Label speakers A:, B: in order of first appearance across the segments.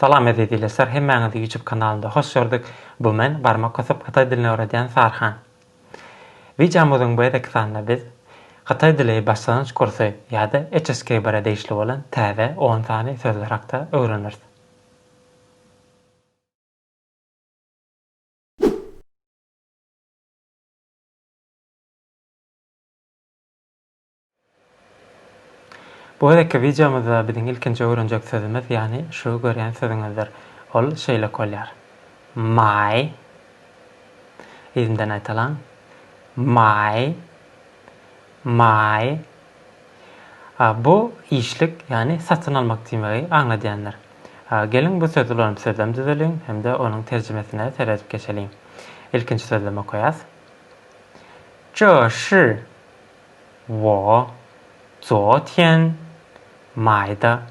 A: Salam eziz ilesler hemmäňizi ýutup kanalynda hoş gördük bu men barmak gysyp hytaý dilini öwredýän Sarhan. Wideomyzyň bu edeki sanyna biz Hytaý dili başlangyç kursy ýa-da HSKBR-e degişli bolan täze on sany sözler hakda öwreneris. Bu gezekki wideomyzda biziň ilkinji öwrenjek sözümiz ýagny şu görýän sözüňizdir. Ol şeýlek bolýar. My. Yzyndan aýtalyň. My. My. Bu işlik ýagny satyn almak diýmegi aňladýandyr. Geliň bu sözi ulanyp sözlem düzeliň hem-de onuň terjimesine seredip geçeliň. Ilkinji sözlemi okaýas. Ço şi. Wo, zotýen maýda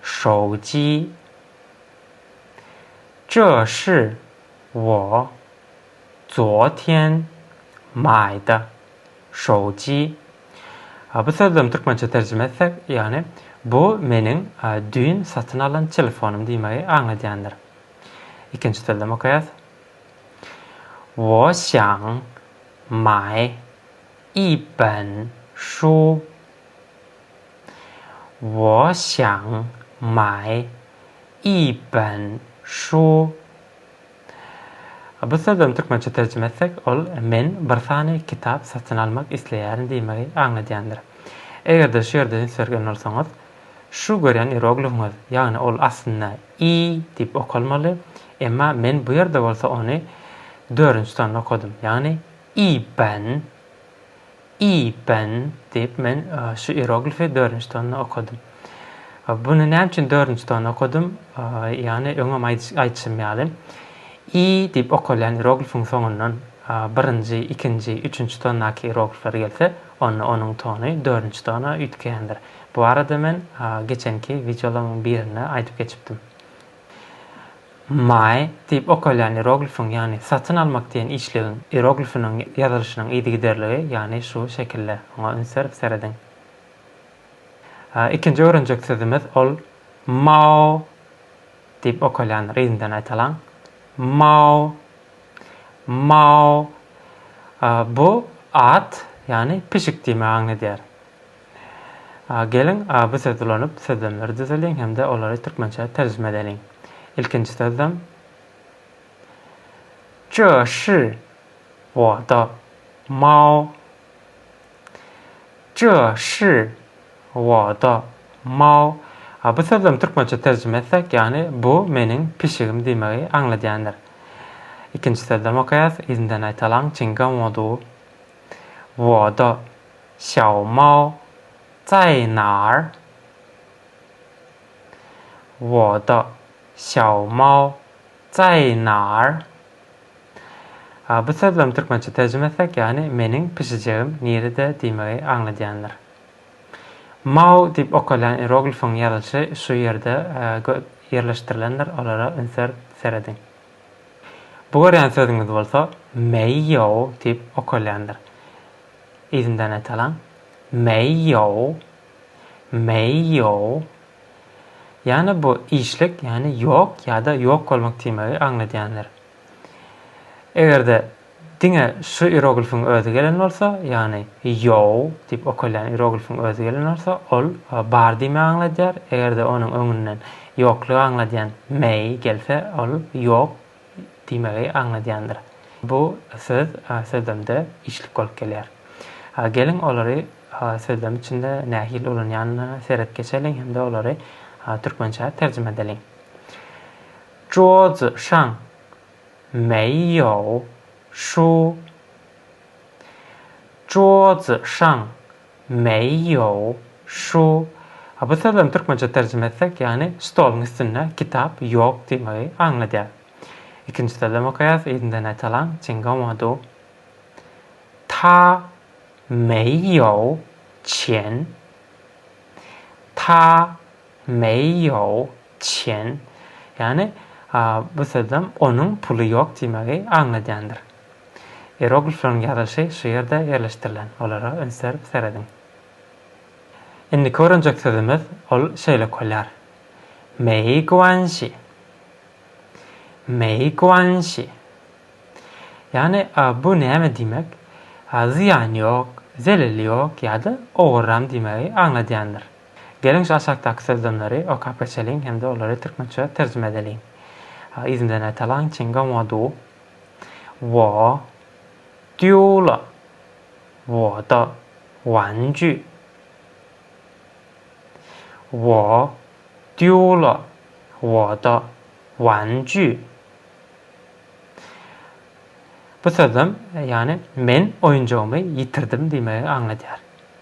A: şouji, zhe shi wo, zotýen maýda şouji. Bu sözlem türkmençe terjime etsek, ýagny bu meniň düýn satyn alan telefonym diýmegi aňladýandyr. Ikinji sözlem okaýas. Wo xiang mai Iben şu Wo xiang mai Iben şu Bu sözlem türkmençe terjime etsek, ol men bir sany kitap satyn almak isleýärin diýmegi aňladýandyr. Eger-de şu ýerde üns bergen bolsaňyz, şu görýän ieroglifiňiz, ýagny ol aslynda i diýip okalmaly, emma men bu ýerde bolsa ony dördünji sanda okadym, ýagny Iben, Iben, diýip, men şu ieroglifi dördünji tonna okadym. Buny näme üçin dördünji tonna okadym? Ýagny öňem aýdyşym ýaly, i diýip okalýan ieroglifiň soňundan birinji, ikinji, üçünji tondaky ieroglifler gelse, onda onuň tony dördünji tona üýtgeýändir. Bu barada men geçenki wideolaryň birinde aýdyp geçipdim. Mae diýip okalýan ieroglifiň, ýagny satyn almak diýen işlegiň ieroglifiniň ýazylyşynyň yzygiderligi, ýagny şu şekilde. Oňa üns berip serediň. Ikinji öwrenjek sözümiz ol Mao diýip okalýan ryzmden aýtalyň. Mao. Mao. Bu at, ýagny pişik diýmegi aňladýar. A Geliň, a bu söz ulanyp, sözlemleri düzeliň hem-de olary türkmençä terjime edeliň. Ilkinji sözlem. Zhe shi wo de mao. Zhe shi wo de mao. A bu sözlemi türkmençe terjime etsek, ýagny bu meniň pişigim diýmegi aňladýandyr. Ikinji sözlemi okaýas, yzyndan aýtalaň, Çingan wo du. Wo de. Xiao Mao Zai Naer? Wo de Xiao Mao Zai Naer? Bu sözleriň türkmençe terjime etsek, ýagny meniň pişijegim nirede diýmegi aňladýandyr. Mao diýip okalýan ieroglifiň ýazylyşy şu ýerde ýerleşdirilendir, olara ünser serediň. Bu görýän sözüňiz bolsa Meýýow diýip okalýandyr. Yzyndan aýtalyň. Meýýow. Meýýow. Ýagny bu işlik, ýagny ýok ýa-da ýok bolmak diýmegi aňladýandyr. Eger-de Diňe şu ieroglifiň özi gelen bolsa, ýagny Ýou diýip okalýan ieroglifiň özi gelen bolsa, ol bar diýmegi aňladýar, eger-de onuň öňünden ýoklugy aňladýan Mei gelse, ol ýok diýmegi aňladýandyr. Bu söz sözlemde içlik bolup gelýär. Geliň, olary sözlem içinde nähili ulanýanyna seret geçeliň hem-de olary türkmençä terjime edeliň. Zhuozi şang Meýýow, şu, Juozi Şaň, Meýýow, şu, a bu sözlem türkmençe terjime etsek, ýagny stoluň üstünde kitap ýok diýmegi aňladýar. Ikinji sözlem okaýas, yzyndan aýtalyň, Çingoma du, Ta Meýýow Çen, Ta Meýýow Çen, ýagny bu sözem onuň puly ýok diýmegi aňladýandyr. Ieroglifleriň ýazylyşy şu ýerde ýerleşdirilen, olara üns berip serediň. Indiki öwrenjek sözümiz ol şeýle okalýar, Meýguanşi. Meýguanşi. Ýagny bu näme diýmek? Zyýany ýok, zeleli ýok ýa-da oguram diýmegi aňladýandyr. Geliň şu aşakdaky sözlemleri okap geçeliň hem-de olary türkmençe terjime edeliň. Yzyndan aýdalyň, Çyn gowmadyw. Wo diýu la. Wo da wan jü. Wo diýu la. Wo da wan jü. Bu sözlem, ýagny men oýunjagymy ýitirdim diýmegi aňladýar.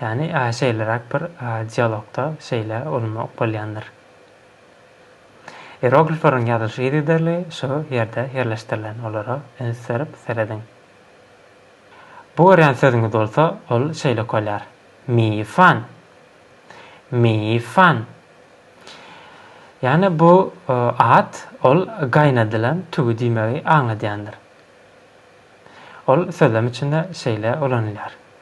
A: Ýagny, şeýleräk bir dialogda şeýle ulanyp bolýandyr. Ieroglifleriň ýazylyş yzygiderli şu ýerde ýerleşdirilen, olara üns berip serediň. Bu görýän sözüňiz bolsa, ol şeýle okalýar, Miýfan. Miýfan. Ýagny, bu at, ol gaýnadylan tüwi diýmegi aňladýandyr. Ol sözlem içinde şeýle ulanylýar,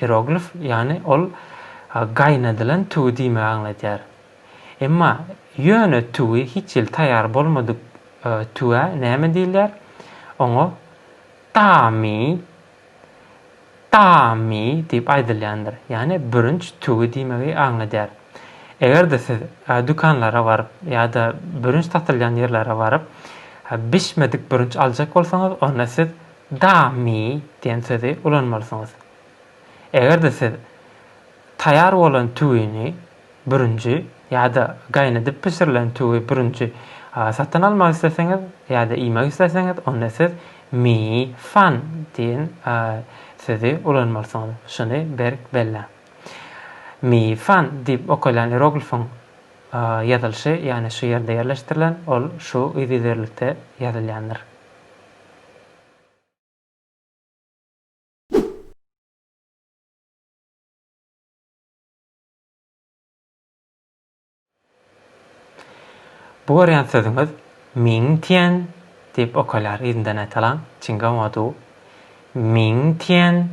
A: Hieroglif, ýagny ol gaýnadylan tüwi diýmegi aňladýar. Emma ýöne tüwi hiç hili taýýar bolmadyk tüwä näme diýilýär? Oňa Tami, Tami diýip aýdylýandyr. Ýagny bürünç tüwi diýmegi aňladýar. Eger-de siz dükanlara baryp ýa-da bürünç satylýan ýerlere baryp bişmedik bürünç aljak bolsaňyz onda siz Da mi diýen sözi ulanmalysyňyz. Eger-de siz taýýar bolan tüwini bürünji ýa-da gaýnadyp bişirilen tüwi bürünji satyn almak isleseňiz ýa-da iýmek isleseňiz, onda siz mi fan diýen sözi ulanmalysyňyz. Şuny berk belläň. Mi fan diýip okalýan ieroglifiň ýazylyşy, ýagny şu ýerde ýerleşdirilen, ol şu yzygiderlikde ýazylýandyr. Bu görýän sözüňiz Ming Tian diýip okalýar, yzyndan aýtalaň, Çinga Hua Du, Ming Tian,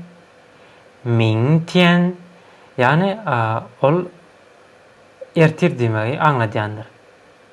A: Ming Tian, ýagny ol ertir diýmegi aňladýandyr.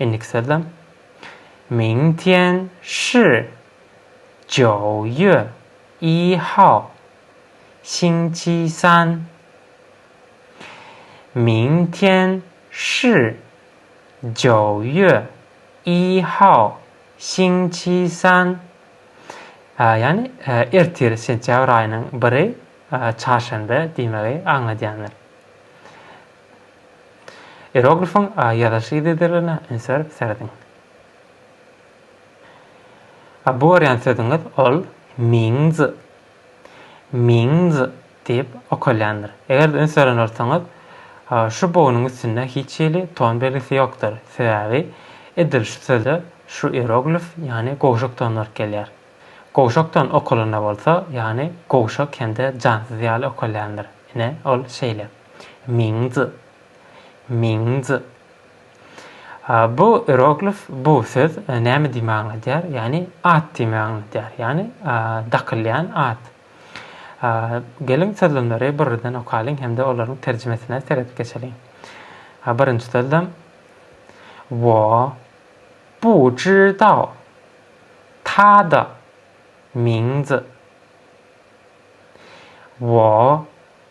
A: Indiki sözde, Ming tian shi jiao ýue yi hao, Xing qi san. Ming tian shi jiao ýue yi hao, Xing qi san. Ýagny, ertir, sentýabr aýynyň biri, çarşenbe diýmegi aňladýandyr. Ieroglifyň A ýazylyş yzydyryna üns berip serediň. A bu görýän sözüňiz ol Mingz, Mingz diýip okalýandyr. Eger-de üns beren bolsaňyz, şu bognuň üstünde hiç hili ton belgisi ýokdur. Sebäbi edil şu söze şu ieroglif, ýagny gowşak ton baryp gelýär. Gowşak ton okalanda bolsa, ýagny gowşak hem-de jansyz ýaly okalýandyr. Ine, ol şeýle. Mingzi. Mingzi. Bu ieroglif, bu söz näme diýme aňladýar? Ýagny at diýme aňladýar. Ýagny dakylýan at. Geliň sözlemleri birden okalyň hem-de olaryň terjimesine seredip geçeliň. Birinji sözlem. Wo bu zhi dao ta da mingzi. Wo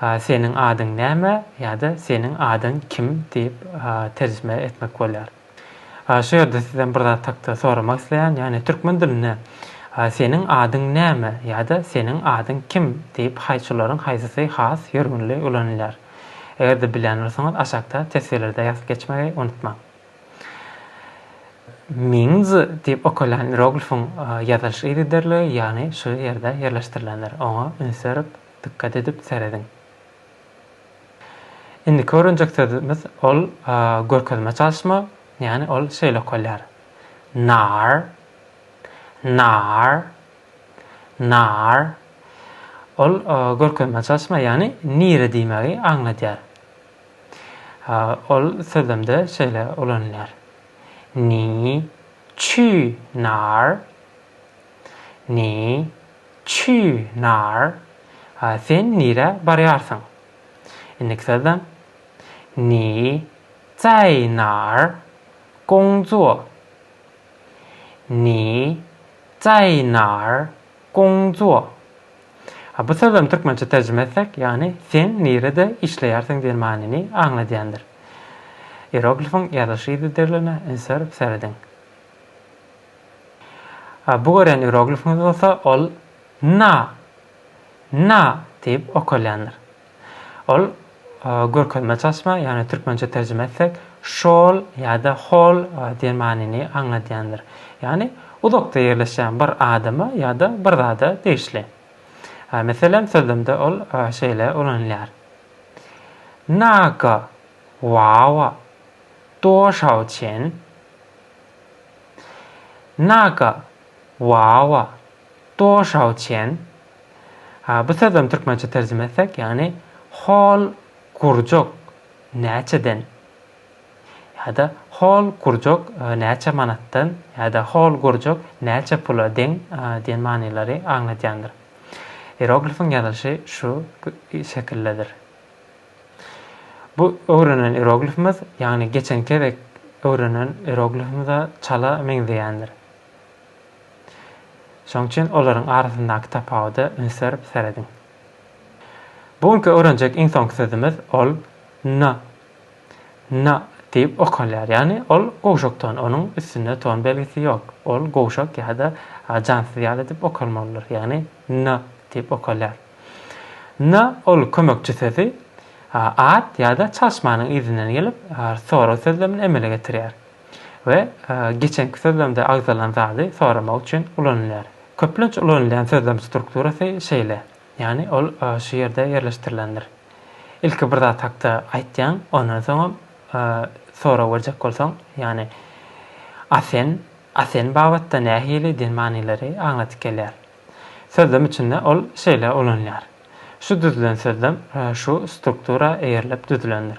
A: Seniň adyň näme? ýa-da Seniň adyň kim? diýip terjime etmek bolýar. Şu ýerde sizden bir zat hakda soramak isleýän, ýagny türkmen dilinde Seniň adyň näme? ýa-da Seniň adyň kim? diýip haýçularyň haýsysy has ýörgünli ulanylýar? Eger-de bilýän bolsaňyz aşakda teswirlerde ýazyp geçmegi unutmaň. Mingz diýip okalýan ieroglifiň ýazylyş yzygiderligi, ýagny şu ýerde ýerleşdirilendir. Oňa üns berip, dykgat edip serediň. Indiki öwrenjek sözümiz, ol görkezme çalyşma, ýagny ol şeýle okalýar, nar, nar, nar. Ol görkezme çalyşma, ýagny nire diýmegi aňladýar. Ol sözlemde şeýle ulanylýar, Ni çü nar? Ni çü nar? Sen nirä barýarsyň? Indiki sözlem, Ni zaý nar gongzuo? Ni zaý nar Guangzhuo. Bu sözlem türkmençe terjime etsek, ýagny Sen nirede işleýärsiň diýen manyny aňladýandyr. Ieroglifiň ýazylyş ýygydyrylyna ünsüberip serediň. Bu görýän ieroglifiňiz bolsa ol Na, Na diýip okalýandyr. Ol görkezme çaşma, ýagny türkmençe terjime etsek, şol ýa-da hol diýen manyny aňladýandyr. Ýagny uzakda ýerleşýän bir adama ýa-da bir zada degişli. Meselem, sözlemde ol şeýle ulanylýar. Naga wawa doşao çen? Naga wawa Doşawçen, bu sözem türkmençe terjime etsek, ýagny hol gurjak näçeden ýa-da hol gurjak näçe manatdan ýa-da hol gurjak näçe pula deň diýen manylary aňladýandyr. Ieroglifiň ýazylyşy şu şekildedir. Bu öwrenen ieroglifimiz, ýagny geçen gezek öwrenen ieroglifimize çala meňzeýändir. Şoň üçin olaryň arasyndaky tapawuda üns berip serediň. Bu günki öwrenjek iň soňky sözümiz, ol n, na diýip okalýar. Ýagny ol gowşakton, onuň üstünde ton belgisi ýok. Ol gowşak ýa-da jansyz ýaly edip okalmalydyr. Ýagny n diýip okalýar. N, ol kömekçi sözi ad ýa-da çalyşmanyň yzyndan gelip, sorag sözlemini emele getirýär. we geçenki sözlemde agzalan zady soramak üçin ulanylýar. Köplenç ulanylýan sözlem strukturasy şeýle, ýagny ol şu ýerde ýerleşdirilendir. Ilki bir zat hakda aýtýaň, ondan soňam sorag berjek bolsaň, ýagny A sen, A sen babatda nähili diýen manylary aňladyp gelýär. Sözlem içinde ol şeýle ulanylýar, Şu düzülen sözlem şu struktura eýerilip düzülendir.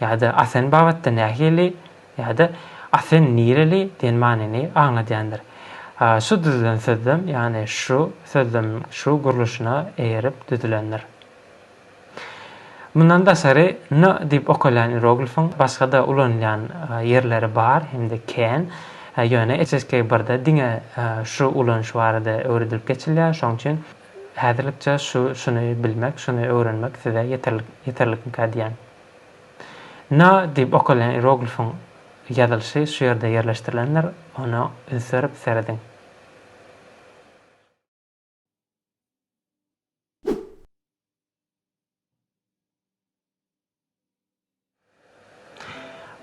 A: ýa-da Asen babatda nähili ýa-da Asen nireli diýen manyny aňladýandyr. Şu düzülen sözlem, ýagny şu sözlemiň şu gurluşyna eýerip düzülendir. Mundan daşary n diýip okalýan ieroglifiň başga-da ulanylýan ýerleri bar hem-de kän, ýöne HSK birde diňe şu ulanyş barada öwredilip geçilýär, şonuň üçin häzirlikçe şu şuny bilmek, şuny öwrenmek size ýeterlikmikä diýýän. Na diýip okalýan ieroglifiň ýazylyşy şu ýerde ýerleşdirilendir, ona üns berip serediň.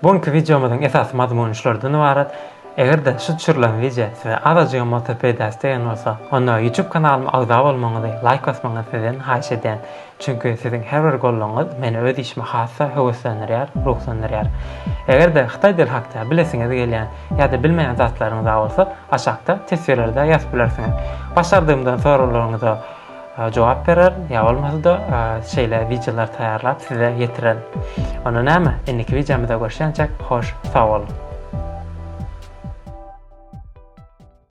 A: Bu günki wideomyzyň esasy mazmuny şulardan ybarat. Eger-de şu düşürilen wideo size azajygam bolsa peýdasy degen bolsa, onda YouTube kanalyma agza bolmagyňyzy, laýk basmagyňyzy sizden haýyş edýän. Çünki siziň her bir goldawyňyz meni öz işime has-da höweslendirýär, ruhlandyrýar. Eger-de hytaý dili hakda bilesiňiz gelýän ýa-da bilmeýän zatlaryňyz-a bolsa, aşakda teswirlerde ýazyp bilersiňiz. Başardygymdan soraglaryňyza jogap berer ýa bolmasa-da şeýle wideolar taýýarlap size ýetiren. Onda näme, indiki wideomyzda görüşýänçäk hoş sag boluň.